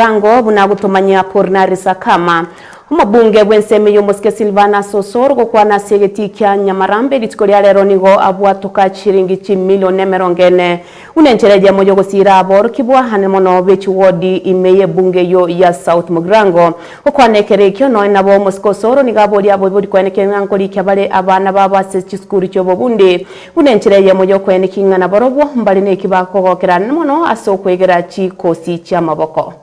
Omorango buna agotomanyia Kornari Sakama, omobunge bw'ensemo y'omosike Silvanus Osoro gokwana ase egetii kia Nyamarambe rituko ria rero nigo abwatoka chiringi chimilion emerongo ene buna enchera eyemo y'ogosiira aborokia bwahanene mono be chiwodi ime y'ebunge eyio ya South. Mogirango gokwana ekero ekio nonya nabo omosike Osoro nigo aboria aboibori kwenekera ng'a nkorikia bare abana babo ase chisukuru chi'obobundi Buna enchera eyemo y'okoeniki ng'a nabarobwo mbare neki bakogokera mono ase okwegera chikosi chi'amaboko.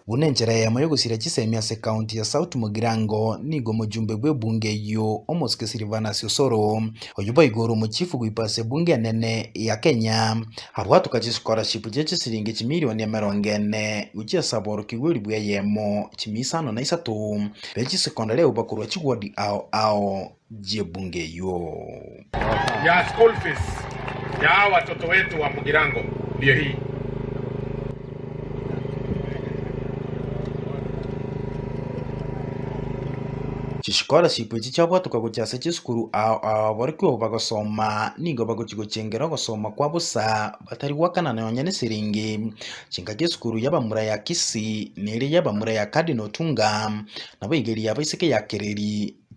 Buna enchera eyemo y'ogosira chisemi ase county ya South Mugirango nigo omojumbe bw'ebunge eyio omosuke Silvanus Osoro, oyio boigo ore omochifu goikwa ase ebunge enene ya Kenya, abwatoka chischolarship chie chisilingi chimilioni emerongo ene gochia ase aborokigwa elibu eyemo chimia isano na isato be chisecondary agwo bakorwa chiward ao ao. y'ebunge eyio. Chischolarship echi chiabwatoka gochia ase chisukuru ao ababorokigwa bagosoma nigo bagochia gochengera ogosoma kwa bosa batari goakana nonya nesiringi. Chingaki esukuru y'abamura ya Kisii neria y'abamura ya Cardinal Otunga nabo igeri yabo isiko yakereri.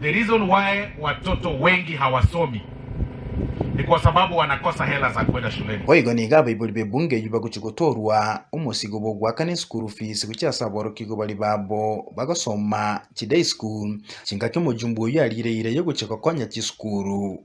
The reason why watoto wengi hawasomi ni kwa sababu wanakosa hela za kwenda shuleni. Boigo nigo abaibori b'ebunge eyio bagochia gotoorwa omosigo bw'ogoakana eschool fees gochia ase aborokigwa baria babo bagosoma chiday school, chingaki omojumbe oyio ariire ira y'ogochia gokonya chisukuru.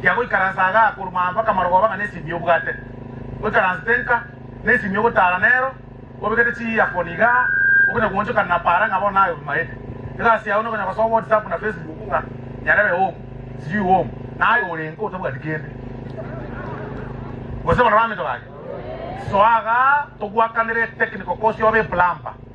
Kia goikaransa agaa korwa aa mpaka marogoba ng'a nesimi y'obwate, oikaransete nka, nesimi y'ogotaara nero, obekete chiearphone igaa, okonya goonchokana na paara ng'a bono naye obimaete. Egasi yao nokonya gosoa whatsapp na facebook ng'a nyarebe home, sijui home, naye ore nka otabwati kende. Gose barabwo abaminto baria, soa agaa togwakanere etechnical course yobe eplumber.